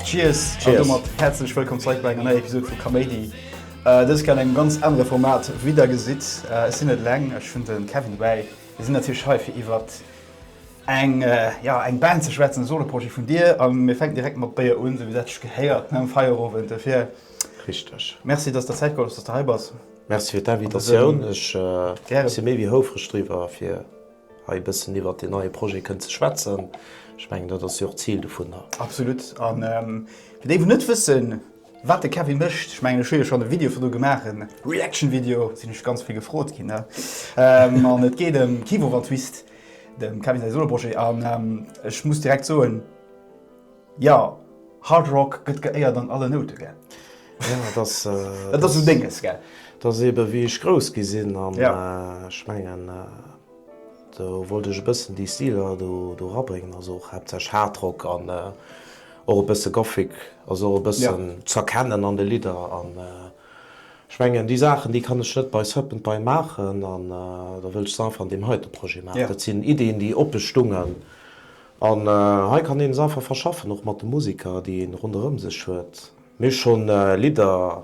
Cheers an domat häerzlech wëllkomm zeréck bei enger neier Episod vu Kaméidi. Dëst Kéier an engem ganz anere Format. Wéi der gesitt, ech sinn net eleng, ech hunn de Kevin dobäi, Mir sinn natierlech hei fir iwwert eng, ja, eng Band ze schwätzen, e Soloprojet vun dir. A mir fänken direkt mat Béier un, esou wéi dat sech gehéiert nom Feierowend. Dofir, richteg, merci, dass s de Zäit geholl hues, dass s de hei bass. Merci fir d'Invitatioun. Ech si méi wéi houfreg driwwer, fir hei e bëssen iwwert deen neie Projet kënnen ze schwätzen. Ech mengen, dat ass jo och d'Zil dovunner. Absolut. A fir déi, wou net wëssen, Wat de Kevin mécht, ech mengen ech hu jo schonn e Video vun do gemaach, e Reaction Video, sinn ech ganz vill gefrot ginn ne? An et geet ëm Kivu van Twist, dem Kevin säi Soloprojet an ech muss direkt soen, jo, Hard Rock gëtt geéiert an alle Noute gell? Jo, et ass, et ass esou Dénges gell? Et ass eebe wéi ech grouss gi sinn an ech mengen. Do wollt ech e bëssen déi Stiler do rabréngen, also och haaptsächlech Hardrock an och e bësse Gothic, also och e bëssen z'erkennen an de Lidder. An ech mengen, déi Saachen, déi kann ech net bei Serpent Pie maachen an da wëll ech se einfach an deem heite Projet maachen. Dat sinn Iddien, déi oppe stungen an hei kann een se einfach verschaffen, och mat de Musiker, déi ee ronderëm sech huet. Mir hu scho Lidder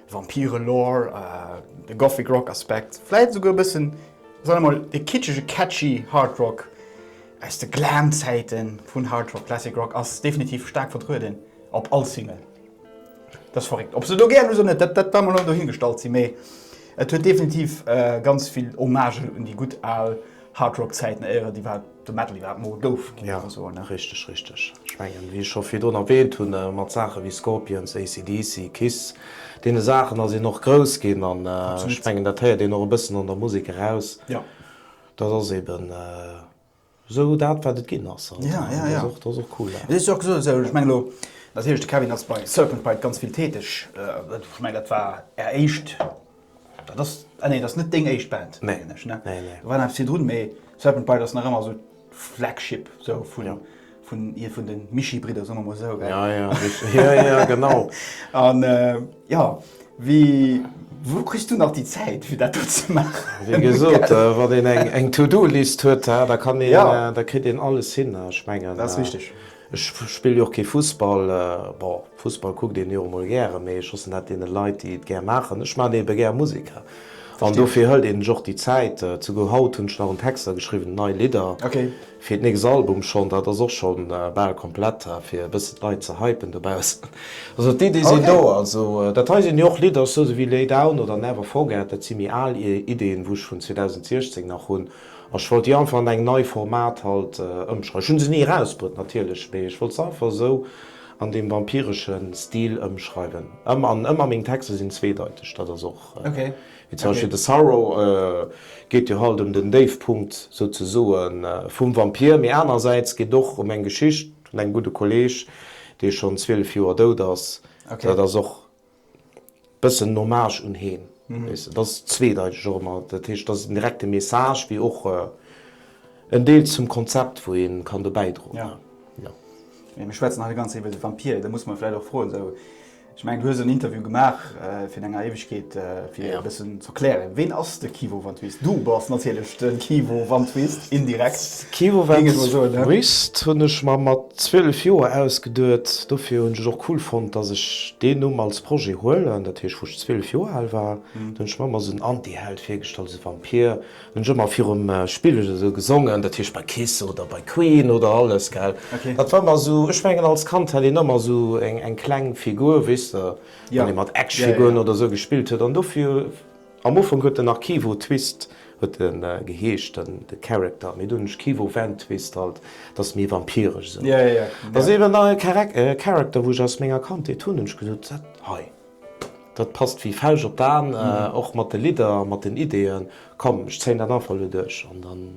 Vampire-Lore, e Gothic Rock Aspekt, vläit esouguer e bëssen, soen ech mol, e kitschege catchy Hard Rock aus de Glam-Zäite vun Hard Rock, Classic Rock ass definitiv staark vertrueden op all Single. Dat ass verréckt. Ob se do gär ass oder net, dat war mol hei dohingestallt si mee et huet definitiv ganz vill Hommagë un déi gutt al Hard Rock Zäiten, éier déi war. De Medley wat mol gouf gi mir soen. Ja richteg, richteg. Ech mengen wéi ech scho virdrun erwähnt hunn, mat Saache wéi Scorpions, AC/DC, Kiss, deene Saachen ass een och grouss ginn an ech mengen dat héiert een och e bëssen an der Musek eraus. Dat ass eben esou dat wat et ginn ass. An dat ass och cool. Et ass jo och gesot, also ech mengen elo natierlech de Kevin ass bei Serpent Bite ganz vill täteg. Ech mengen dat war är éischt Dat ass, ah nee, dat ass net deng éischt Band, mengen ech, ne? Nee, nee. Do waren awer virdrun, mee Serpent Bride ass nach ëmmer esou d'Flagship esou vun. Jo. Vun hier vun de Mischii-Bridder, soe mer emol esou, gell? Ja, ja, rich-, jo, jo, genau. An, jo, wéi, wou kriss du nach déi Zäit, fir dat do ze maachen, gell? Wéi gesot, wann een eng, eng To-Do-List huet, da kann een, da kritt een alles hin, ech mengen. Dat ass richteg. Ech spille jo och kee Fussball. Bon, Fussball kuckt een jo emol gären, mee ech loossen dat deene Leit, déi et gär maachen. Ech maachen eebe gär Musek an dofir hëlt een sech och déi Zäit. Souguer haut hunn ech nach un Texter geschriwwen, nei Lidder fir d'nächst Album schonn. Dat ass och scho bal komplett, fir e bëssen d'Leit ze hypen dobaussen. Also d'Iddie sinn do. Also dat hei sinn jo och Lidder, sou wéi Lay Down oder Never Forget, dat si méi al Iddien, wou ech vun 2016 nach hunn. Ech wollt déi einfach an engem nei Format halt ëmschreiwen. Ech hunn se ni erausbruet natierlech, mee ech wollt se einfach esou an deem vampiresche Stil ëmschreiwen. Ëmmer an ëmmer meng Texter sinn zweedeiteg, dat ass och, wéi zum Beispill de Sorrow geet jo halt ëm den Déifpunkt souzesoe vum Vampir, mee anerersäits geet och ëm eng Geschicht vun engem gudde Kolleeg, dee schonn 12 Joer dout ass. Dat ass och. Bëssen en Hommage un heen, weess de. Dat ass zweedeiteg och ëmmer. Dat heescht, dat ass en direkte Message, wéi och en Deel zum Konzept, wou ee kann do bäidroen. Ja. Jo. Mee mir schwätzen hei de ganze Zäit iwwer de Vampir. Da muss mer vläicht och froen, esou, ech mengen, du hues en Interview gemaach, virun enger Éiwegkeet, fir e bëssen. Erklären, ween ass de Kivo van Twist? Du bass natierlech de Kivo van Twist, indirekt, géing ech mol soen, ne? Twist hunn ech mer mat 12 Joer ausgeduet. Dofir hunn ech et och cool fonnt, dass ech deen Numm als Projet huelen. Dat heescht, wou ech 12 Joer al war, do hunn ech mer ëmmer esou en Antiheld virgestallt, esou e Vampir. Dann hunn ech ëmmer virum Spigel esou gesongen, dat heescht bei Kiss oder bei Queen oder alles, gell. Dat war ëmmer esou, ech mengen, als Kand hat een ëmmer esou eng kleng Figur, weess de. wann ee mat Actionfiguren oder esou gespillt huet. An dofir, am Ufank huet en nach Kivo Twist huet e geheescht, de Character, mee dunn hunn ech Kivo Van Twist halt, dat ass méi vampiresch esou. Dat ass eben nach e Character, wou ech aus menger Kandheet hunn. Hunn ech gesot, dat hei, dat passt wéi d'Fauscht op d'An, och mat de Lidder a mat den Ideeën. Komm, ech zéien dat einfach elo duerch an dann.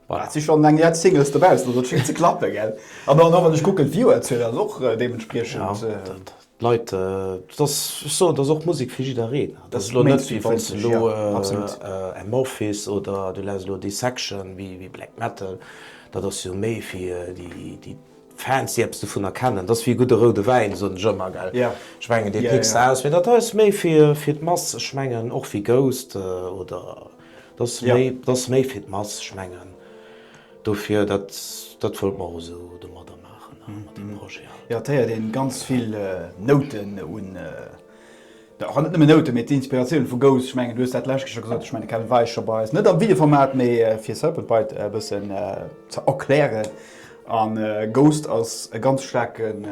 Voilà, et si schonn eng Ried Singles dobaussen, also et schéngt ze klappen, gell? An dann och, wann ech kucken, d'Viewerzuel ass och deementspriechend. Jo, d'Leit, et ass, ech soen, et ass och Musek fir jiddereen. Et ass elo net wéi wann s de elo Amorphis oder du lass elo Dissection, wéi Black Metal, dat ass jo méi fir déi Fans, déi eppes dovunner kennen. Dat ass wéi e gudde roude Wäin, soen ech ëmmer, gell? Ech mengen, dee péckst de aus. Mee dat hei ass méi fir d'Mass, ech mengen och wéi Ghost oder. Dat ass méi fir d'Mass. Ech mengen dofir, dat wëllt mer och esou domadder maachen, mat deem Projet haut. Jo, et héiert ee ganz vill Nouten un, och net nëmmen Nouten, mee d'Inspiratioun vu Ghost. Ech mengen, du hues dat d'lescht Kéier scho gesot. Ech mengen, de Kevin war eis scho bei eis, net am Videoformat, mee fir Serpent Bite e bëssen ze erklären. A Ghost ass e ganz staarken,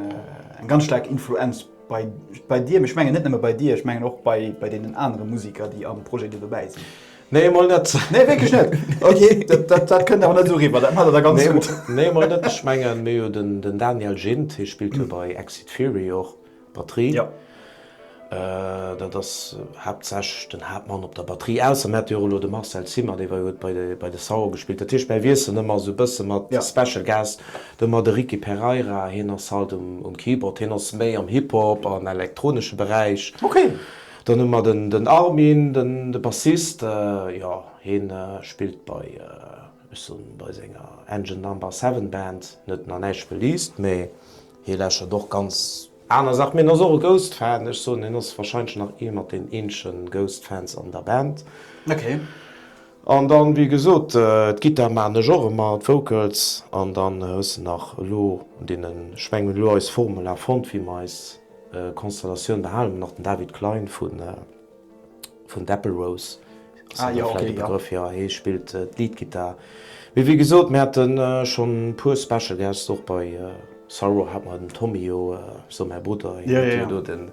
eng ganz staark Influenz. Bei, bei dir, ech mengen net nëmme bei dir, ech mengen och bei, bei deenen anere Musiker, déi am Projet do dobäi sinn. Nee, emol net. Nee, wierklech net? Ok, dat, dat, dat kënnt awer net esou eriwwer, dat maacht der da ganz gutt. Nee, nee, emol net. Ech mengen, mir hu den, den Daniel Gindt, hie spillt jo bei Exit Theory och Batterie. Jo. Dat ass haaptsächlech den Haaptmann op der Batterie, ausser mir hätte jo och elo de Marcel Cima, dee war jo, huet bei de, bei de Sauer gespillt. Dat heescht, mäi Wiessel ëmmer esou e bësse mat Special Guest. Domat de Ricky Pereira, hien ass halt um Keyboard, hien ass méi am Hip-Hop an elektronesche Beräich. Dann hu mer den Armin, de Bassist, jo, hie spillt bei, ech soen, bei senger Engine Number Seven Band, net nach näischt released, mä hie lauschert och ganz aner Saachen. Hien ass och e Ghost Fan, ech soen, hien ass warscheinlech nach ee mat den eenzegen Ghost Fans an der Band. An dann, wéi gesot, d'Gittar maachen ech och ëmmer, d'Vocals. An dann hues de nach elo un deene Schwäin, hunn elo eis Formula fonnt, wéi mer eis Konstellatioun behalen. Hunn nach den David Klein vun d'Apple Rose, ass him da vläicht e Begrëff, jo, hie spillt d'Leadgittar. Mee wéi gesot, mir hate schonn e puer Special Guest, och bei Sorrow hat mer den Tommy, jo, esou mäi Brudder, hien huet jo do den.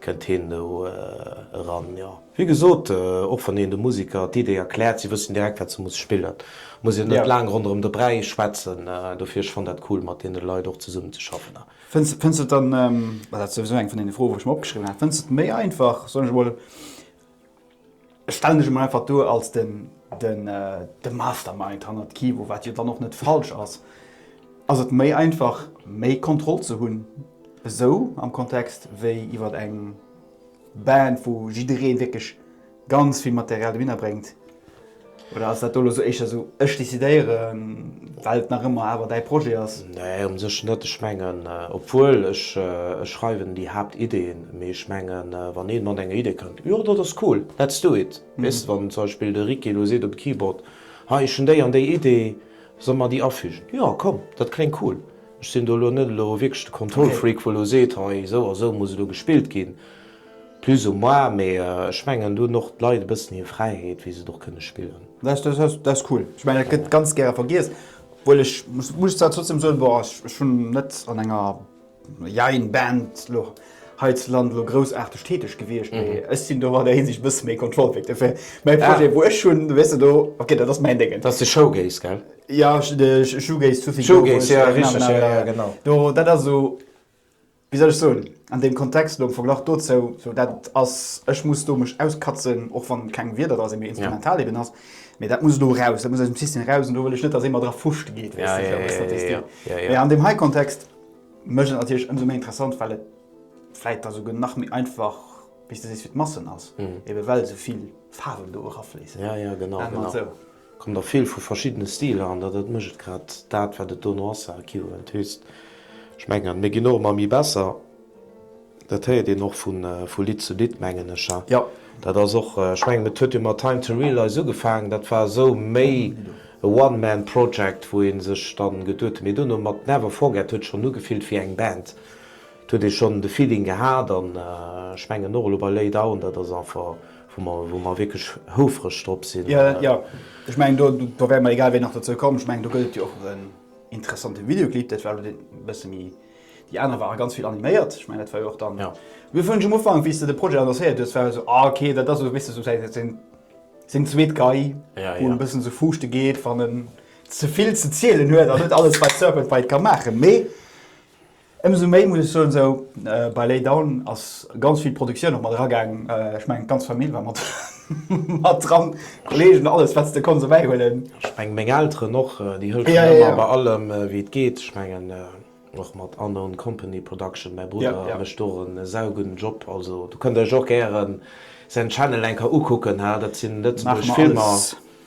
Kënnt heen do eran, jo. Wéi gesot, och wann een de Musiker d'Idee erkläert, si wëssen direkt, wat se muss spillen. Muss een net laang ronderëm de Bräi schwätzen. Dofir, ech fannt dat cool, mat deene Leit och zesummen ze schaffen. Fënns de et dann, well dat ass souwisou eng vun deene Froe, wou ech mir opgeschriwwen hat, fënns de et méi einfach, soen ech emol, Ech stellen ech emol einfach duer als de Mastermind hannert Kivo, wat jo dann och net falsch ass. Ass et méi einfach, méi Kontroll ze hunn esou am Kontext wéi iwwer eng Band, wou jidderee wierklech ganz vill Material dohinner bréngt? Oder ass dat do elo sou éischter sou, ech decidéieren, well et nach ëmmer awer däi Projet ass? Nee, um sech net. Ech mengen, obwuel ech schreiwen déi Haaptideeën, mee ech mengen, wann ee mat enger Idee kënnt, jo dat ass cool, let's do it. Weess de, wann zum Beispill de Ricky elo seet um Keyboard, hei ech hunn déi an déi Idee, solle mer déi afügen? Jo komm, dat kléngt cool. Ech sinn do elo net elo wierklech de Control-Freak, wou elo seet, hei esou a sou muss elo gespillt ginn. Plus ou moins, mee ech mengen do hunn och d'Leit e bëssen hir Fräiheet wéi se et och kënne spillen. Dat ass cool. Ech mengen dat gëtt ganz gäre vergiess, obwuel ech muss zwar trotzdem soen, bon ech hunn net an enger jein Band elo heizland elo groussaarteg täteg gewiescht, mee ech sinn do an där Hinsicht e bësse méi Controlfreak. Dofir mäi Projet wou ech hunn, weess de do, ok dat ass mäin Déngen. Dass de Showgaze, gell? Jo, Showgaze, Showgaze, ja richteg, jo jo genau. Do dat ass esou Wéi soll ech soen, an deem Kontext elo am Verglach dozou, sou dat et ass, ech muss do mech auskatzen, och wann et keng Wierder dra sinn, mee instrumental eben ass, mee dat muss elo eraus, dat muss aus dem System eraus an do wëll ech net, datt ee mer dra Fruscht geet, weess de, fir eppes, dat weess dir. Mee an deem hei Kontext mécht et natierlech ëmsou méi interessant, well et vläicht da souguer nach méi einfach, wéi s de sees, fir d'Massen ass, ebe well esou vill Faarwen do erafléissen, nennen mer et esou. Kommt a vill vu verschiddene Stiler an dat mécht et grad dat wat et dono ass, sa equivalent twist. Ech mengen et, mir ginn och ëmmer méi besser, dat héiert een och vu Lidd zu Lidd mengen ech. Hein, dat ass och, ech mengen et huet jo mat Time to Realize ugefaangen, dat war esou méi e one man project wou ee sech dann geduet huet, mee dono mat Never Forget huet schonn ugefillt wéi eng Band, et huet ee schonn de Feeling gehat an ech mengen och elo bei Lay Down, dat ass einfach. wou mer wierklech houfreg drop sinn. Jo, ech mengen, do wäre mer egal wéi nach dozou komm. Ech mengen, do gëtt et jo och en interessante Videoclip. Dat war elo deen e bësse méi, déi aner ware ganz vill animéiert. Ech mengen, dat war jo och dann, mir hu virun ech um Ufank, wéi s de de Projet annoncéiert hues, war jo esou, ah ok, dat ass esou e bësse esou säin, seng zweet Gei, wou en e bëssen esou fuuschte geet, wann en ze vill ze zielen huet an net alles bei Serpent Bite ka maachen. Mee. Ëmsou méi muss ech soen, esou bei Lay Down ass ganz vill Produktioun och mat era gaang. Ech mengen d'ganz Famill war mat mat dran, Kollegen, alles wat s de konns erbäi huelen. Ech mengen meng Elteren och, déi hëllefen ëmmer bei allem wéi et geet. Ech mengen och mat Unknown Company Production, mäi Brudder mécht och e saugudden Job. Also do kënnt der iech och gären säin Channel eng Kéier ukucken, dat sinn lëtzebuergesch Filmer.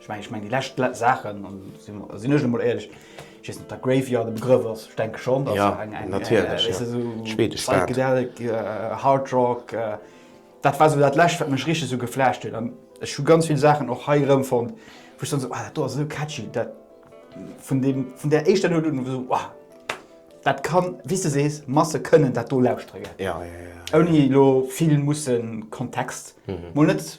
Ech mengen, ech mengen déi lescht Saachen, an do sinn ech emol éierlech, ech weess net, ob der Graveyard e Begrëff ass, ech denke schonn, dat ass eng, eng, natierlech, ja, schwedesch Band, esou Psychedelic, Hard Rock, dat war esou dat lescht, wat mech richteg esou geflasht huet. An ech hu ganz vill Saachen och hei erëmfonnt, wou ech dann esou, ah, dat do ass esou catchy, dat vun deem, vun där éischter Nout un, esou, wow, dat kann, wéi s de sees, Masse kënnen dat do lauschtere ginn, ouni elo vill mussen Kontext, mol net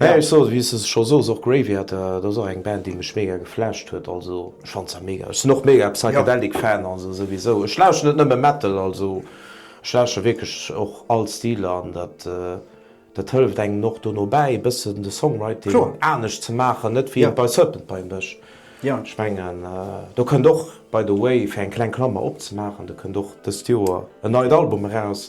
Mä ech soen, wéi s de scho soos, och Graveater, dat ass och eng Band, déi mech mega geflasht huet. Also ech fannt se mega. Ech sinn och mega Psychedelic Fan, also souwisou. Ech lauschten net nëmme Metal, also ech lauschten wierklech och all Stiler an dat dat hëlleft engem och dono bäi e bëssen de Songwriting anescht ze maachen, net wéi et bei Serpent bei mécht. Ech mengen do kënnt och, by the way, fir eng kleng Klammer opzemaachen, do kënnt och dëst Joer en neit Album eraus,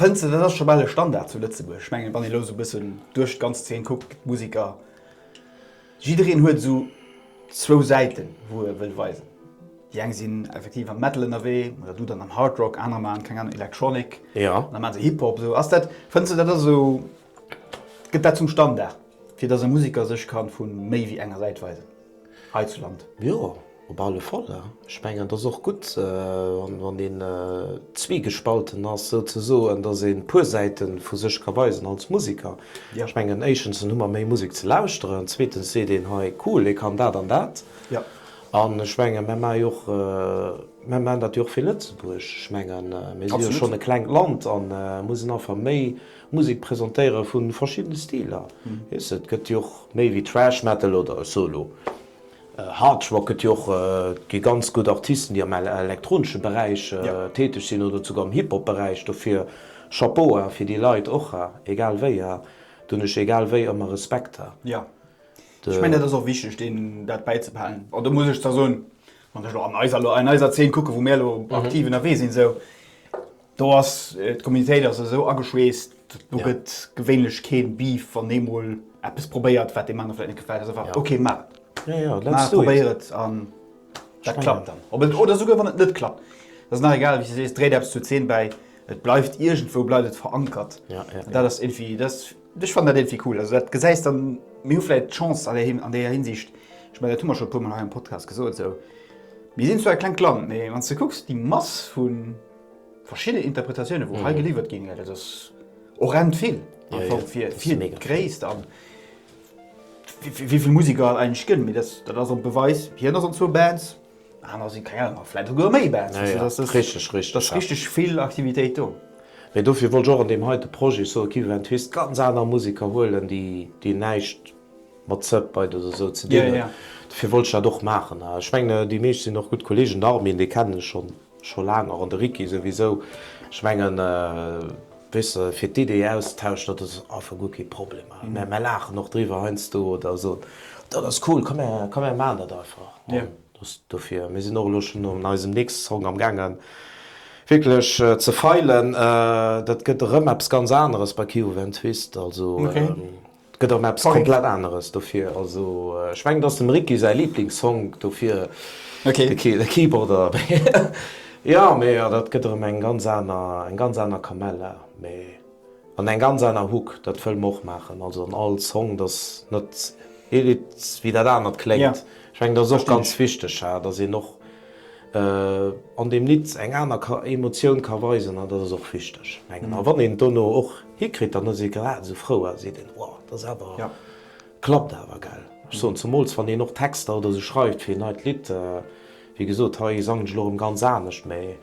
Fënns de, dat ass scho bal e Standard zu Lëtzebuerg? Ech mengen, wann een elo esou e bëssen duerch d'ganz Zeen kuckt, gëtt d'Musiker, jiddereen huet esou zwou Säiten, wou e wëll weisen. Déi eng sinn effektiv am Metal ënnerwee oder du dann am Hard Rock, anerer maachen, keng Ahnung, Electronic, aner maache Hip-Hop. Esou, ass dat, fënns de, dat ass esou? Gëtt dat zum Standard, fir datt e Museker sech kann vu méi wéi enger Säit weisen heizuland? Jo, op alle Fall. Ech mengen, et ass och gutt, wann een zwiegespalten ass, souzesoen, datt ee puer Säite vu sech ka weisen als Museker. Ech mengen, éischtens hu mer méi Musek ze lauschteren, zweetens seet een, hei, cool, ee kann dat an dat. An ech mengen, mär maache jo och, mär maachen dat jo och fir Lëtzebuerg. Ech mengen, mir si jo schonn e klengt Land a mussen einfach méi. Musek presentéiere vu verschiddene Stiler. Et gëtt jo och méi wéi Thrash Metal oder Solo. Hard Rock gëtt jo och. Et gi ganz gutt Artisten, déi am elektronesche Beräich täteg sinn oder esouguer am Hip-Hop Beräich. Dofir Chapeau ha fir déi Leit och ha, egal wéi ha. Do hunn ech egal wéi ëmmer Respekt ha. Jo, ech mengen dat ass och wichteg, deenen dat bäizebehalen. An do muss ech zwar soen, wann ech elo an eiser Zeen kucken, wou mir elo aktiv ënnerwee sinn esou, Do ass d'Communitéit ass esou ageschweesst, do gëtt gewéinlech kee Beef, wann ee mol eppes probéiert, wat deem anere vläicht net gefält. Ass einfach, ok, maach et. Jo, jo, let's do it. Probéier et an dat klappt dann. Oder esouguer wann et net klappt, et ass nach egal, wéi s de sees, dréit eppes zur Zeen bäi, et bleift iergendwou bleift et verankert. An dat ass iergendwéi, dat ass, ech fannen dat iergendwéi cool. Also dat gesäis dann, mir hu vläicht d'Chance an där Hinsicht, ech mengen dat hu mer scho e puermol hei am Podcast gesot esou, mir sinn zwar e klengt Land, mee wann s de kucks déi Mass vu, verschidden Interpretatiounen wou hei geliwwert ginn, dat ass horrend vill einfach fir d'Gréisst an wéi vill Musiker et eigentlech gëtt. Mee dat ass och e Beweis, hien ass an zwou Bands, aner si keng Ahnung a vläit esouguer méi Bands. Dat ass richteg, richteg, ass richteg vill Aktivitéit do. Mee dofir wollt ech och an deem heite Projet soen, Kiwi Van Twist, ganz aner Musiker huelen, déi näischt mat Sub bei oder esou ze dinn hunn. Dofir wollt ech dat och maachen. A ech mengen, déi meescht sinn och gutt Kolleegen. Den Armin, dee kennen ech schonn. Scho laang, och an de Wiki souwisou. Ech mengen, weess de, fir d'Ideeë auszutauschen, dat ass einfach guer kee Problem. Mär laachen och driwwer heiansdo oder soen, dat ass cool, komm mär maachen dat einfach. An dat ass dofir, mir sinn och elo schonn un eisem nächste Song amgaangen wierklech ze feilen. Dat gëtt erëm eppes ganz aneres bei Kio Ventwist. Also. 't gëtt erëm eppes komplett aneres dofir. Also ech mengen et ass dem Ricky säi Liblingssong dofir, de Keyboarder jo mee dat gëtt erëm eng ganz aner, eng ganz aner Kamella mee an eng ganz aner Hook, dat wëll mer och maachen. Also an all Song, dass net ee Lidd wéi dat anert kléngt. Ech mengen et ass och ganz wichteg, dass een och, an deem nit eng aner ka Emotioun ka weisen an dat ass och wichteg mengen a wann een et dono och hikritt dann ass ee grad esou frou a seet een wow dat ass awer klappt awer gell. Ech soen zemools wann een och Texter oder esou schreift fir een neit Lidd wéi gesot hei sangen ech elo erëm ganz anescht mee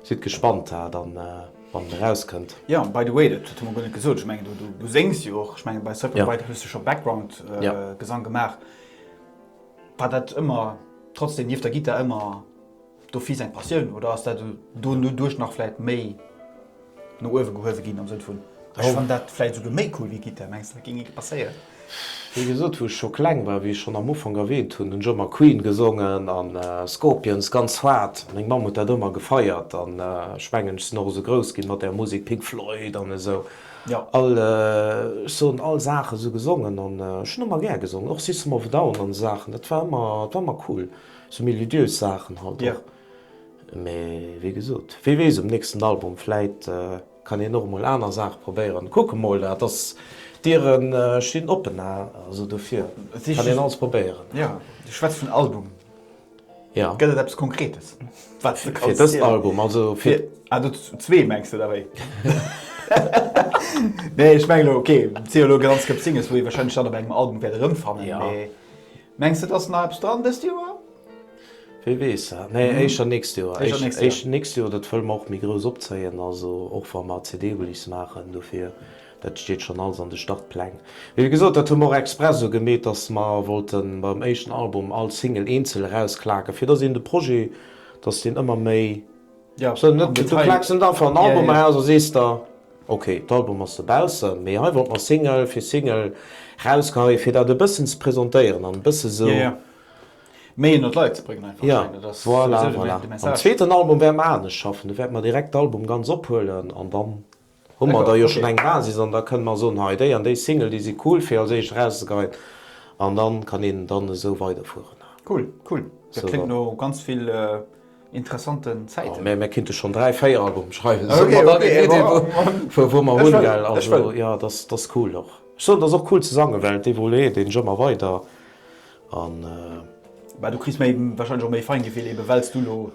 sidd gespannt dat dann wann et erauskënnt. Jo by the way dat hunn mer guer net gesot ech mengen du du du séngs jo och ech mengen bei Circle of Light hues du scho Background Gesang gemaach. War dat ëmmer trotzdem nieft der Gittar ëmmer do vill seng Passioun oder ass dat do doduerch nach vläit méi no uewe gehuewe ginn am Sënn vun ech fann dat vläit esouguer méi cool wéi Gittar? Mengs de dat géing énke passéieren? Wéi gesot, wou ech scho kleng war, wéi ech schonn am Ufank erwähnt hunn, hunn ech ëmmer Queen gesongen a Scorpions ganz haart. Meng Mamm huet dat ëmmer gefeiert an ech mengen ech sinn och esou grouss gi mat där Musek, Pink Floyd an esou. Jo, all, ech soen all, Saache sou gesongen an ech hunn ëmmer gär gesongen, och System of a Down an esou Saachen, dat war ëmmer, dat war ëmmer cool, sou melodiös Saachen halt och. Mee wéi gesot, wee weess, um nächsten Album vläit kann een och emol aner Saache probéieren. Kucke mol, dat ass, d'Diere stinn oppen, also dofir kann een alles probéieren. Jo, du schwätz vun Album. Gëtt et eppes Konkretes, wat s de kanns zielen? Ah, do zwee mengs de da? Wéi? Nee, ech mengen elo, okay, si jo elo grad an Skep Singles, wou ee warscheinlech dann op engem Album wäert erëmfannen, mee mengs de, et ass nach eppes dran dëst Joer? Wie weess? Nee, éischer nächst Joer. Éischer nächst Joer, dat wëlle mer och méi grouss opzéien, also och wa mer CD-Release maachen. Dofir Dat steet schonn alles an de Startpläng. Mee wéi gesot, dat hu mer och express esou gemeet, datt mer wollte beim éischten Album all Single eenzel erausklaken, fir datt een de Projet, datt deen ëmmer méi. Ja, am Detail. Du klaaks net einfach en Album eraus a sees der, ok, d'Album ass dobaussen. Mee hei wollt mer Single fir Single erausgeheien, fir dat e bëssen ze presentéieren an e bësse esou. Ja, ja. Méi ënnert d'Leit ze bréngen einfach. Ja, voilà, voilà. Mam zweeten Album wäerte mer anescht schaffen. Do wäerte mer direkt d'Album ganz ophuelen an dann. Hu mer da jo schonn eng Basis an da kënne mer soen, hei déi an déi Single, déi si cool fir als éischt erauszegeien an da kann een dann esou weiderfueren. Cool, cool, dat kléngt no ganz vill interessanten Zäiten. Mä mir kinnte schonn dräi, véier Albumen schreiwen, sou mer dann eng Iddi vu wou mer hunn, gell. Also jo, dat ass cool och. Ech soen, dat ass och cool ze sangen, well et evoluéiert een jo ëmmer weider an. Mä du kriss méi, warscheinlech och méi Feingefill, eebe well s du elo.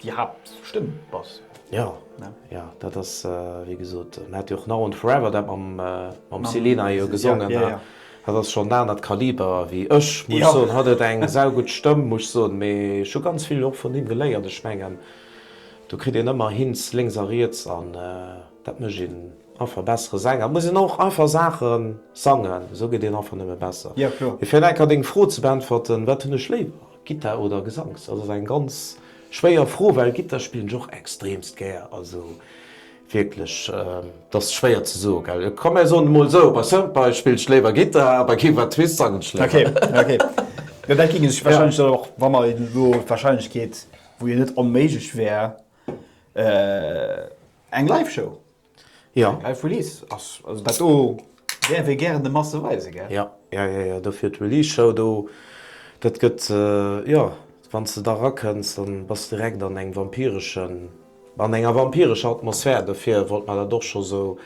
Déi Haaptstëmm bass. Jo, jo, dat ass wéi gesot, en hat jo och Now and Forever dat mam Selena jo gesongen. Dat ass schonn en anert Kaliber wéi ech, muss ech soen. Hatt huet eng saugutt Stëmm, muss ech soen, mee ech hu ganz vill och vun him geléiert. Ech mengen, do kritt een ëmmer Hints lénks a riets an dat mécht een einfach e bessere Sänger. Et muss een och einfach Saache sangen, esou gëtt een einfach nëmme besser. Mee fir nach eng Kéier deng Fro ze beäntwerten, Wat hunn ech léiwer? Gittar oder Gesangs? Dat ass eng ganz schwéier Fro, well Gittar spillen ech och extremst gär. Also wierklech, dat ass schwéier ze soen, gell. Komm mir soen emol esou, bei Soundboy spillt ech léiwer Gittar a bei Give a Twist sangen ech léiwer. Okay, okay. Jo, dat géing sech warscheinlech dann och, wa mer elo d'Warscheinlechkeet, wou jo net onméiglech wär, eng Live-Show. Jo. Eng geil Release ass, also dat do däerf ee gären de Masse weisen, gell? Jo, jo, jo, jo, dofir d'Release Show do. Dat gëtt, jo, wann s de da rakënns, da bass s direkt an engem vampireschen, an enger vampirescher Atmosphär, dofir wollt mer dat och scho sou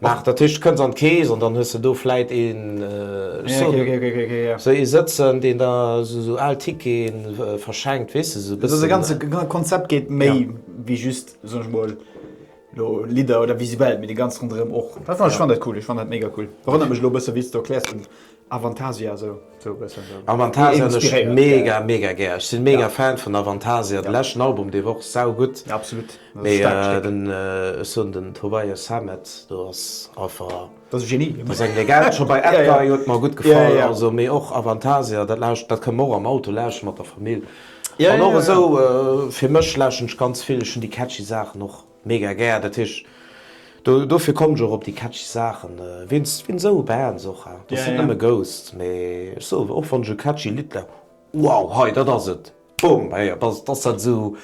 maachen. Dat heescht, kënns an d'Kees an dann hues de do vläit een, ech soen net, esou ee sëtzen, deen da sou al Ticketen verschenkt, weess de, sou e bëssen. Also dat ganze Konzept geet méi wéi just, soen ech mol. Lo Lidder oder visuell, mee de ganz ronderëm och. Dat fand ech fand dat cool, ech fand dat mega cool. Erënnert mech lo e bësse wéi s du erkläers den Avantasia sou e bëssen sou. Avantasia hunn ech mega mega gär. Ech sinn mega Fan vun Avantasia. Den leschten Album dee war och saugutt. Ja absolut, dat ass e staarkt Stéck. Mee den, ech soen den Tobias Sammet do ass einfach, Dat ass e Genie. Dat ass eng Legend. Scho bei Edguy huet mer gutt gefall, also mee och Avantasia dat lauscht, dat kënne mer och am Auto lauschteren mat der Famill. An och esou fir mech lauschten ech ganz vill, ech hunn déi catchy Saachen och mega gär, dat heescht do dofir kommen ech och op déi catchy Saachen wéinst wéinst esou Bands och, dat sinn net nëmme Ghost, mee ech soe och wann ech e catchy Lidd lausch, wow hei dat ass et, bum, hei dat ass dat esou,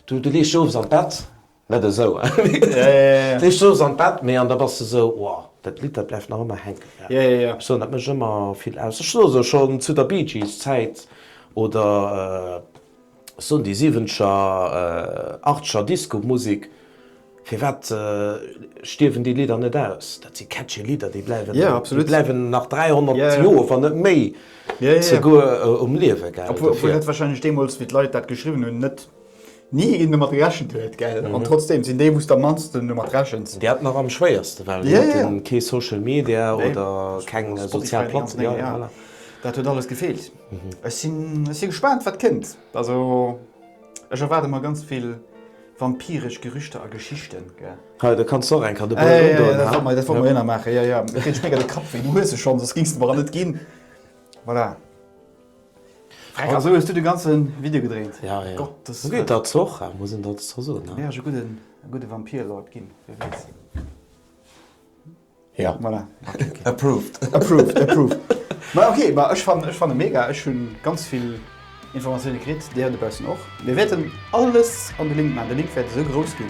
du lees dech owes an d'Bett Net esou, hein? Dat heescht, soss an d'Bett, mee an da bass de esou, Wow, dat Lidd, dat bleift nach ëmmer hänken. Ech soen, dat mécht ëmmer vill aus. Ech soen esou, schonn zu der Bee Gees Zäit oder ech soen déi Siwenzger, Achtscher Discomusek, firwat stierwen déi Lidder net aus? Dat si catchy Lidder, déi bleiwen, déi bleiwen nach 300 Joer, wann net méi souguer um Liewe, gell? Obwuel dat warscheinlech deemools, wéi d'Leit dat geschriwwen hunn, net Ni een domat gerechent huet, gell? An trotzdeem sinn déi, wou s de am mannsten domat rechens. Déi haten nach am schwéierste, well déi haten kee Social Media oder keng sozial Platzen. Jo, jo, voilà. Dat huet alles gefeelt. Ech sinn, ech si gespaant, wat kënnt. Also, ech erwaarde mer ganz vill vampiresch Gerüchter a Geschichten, gell? Hei, do kanns de och eng Kategorie run doen, ha? Jo, jo, dat wollte mer jo nach maachen. Jo, jo, et kritt ee méi grad de Kapp wéi. Du hues se schonns, soss gings de mer en net ginn. Voilà. Fräck also hues du de ganzen Video gedréint? Ja ja. Gottes Wëllen. Gudd dat's och war muss een dat's scho soen ne. Wär ech e gudden e gudde Vampir Lord ginn, wee weess. Ja. Voilà. Okay okay. Approved. Approved approved. Ma okay ma ech fannen ech fannen mega ech hunn ganz vill Informatiounen kritt, déi hei dobaussen och. Mir wäerten alles an de Link maan, de Link wäert esou grouss ginn.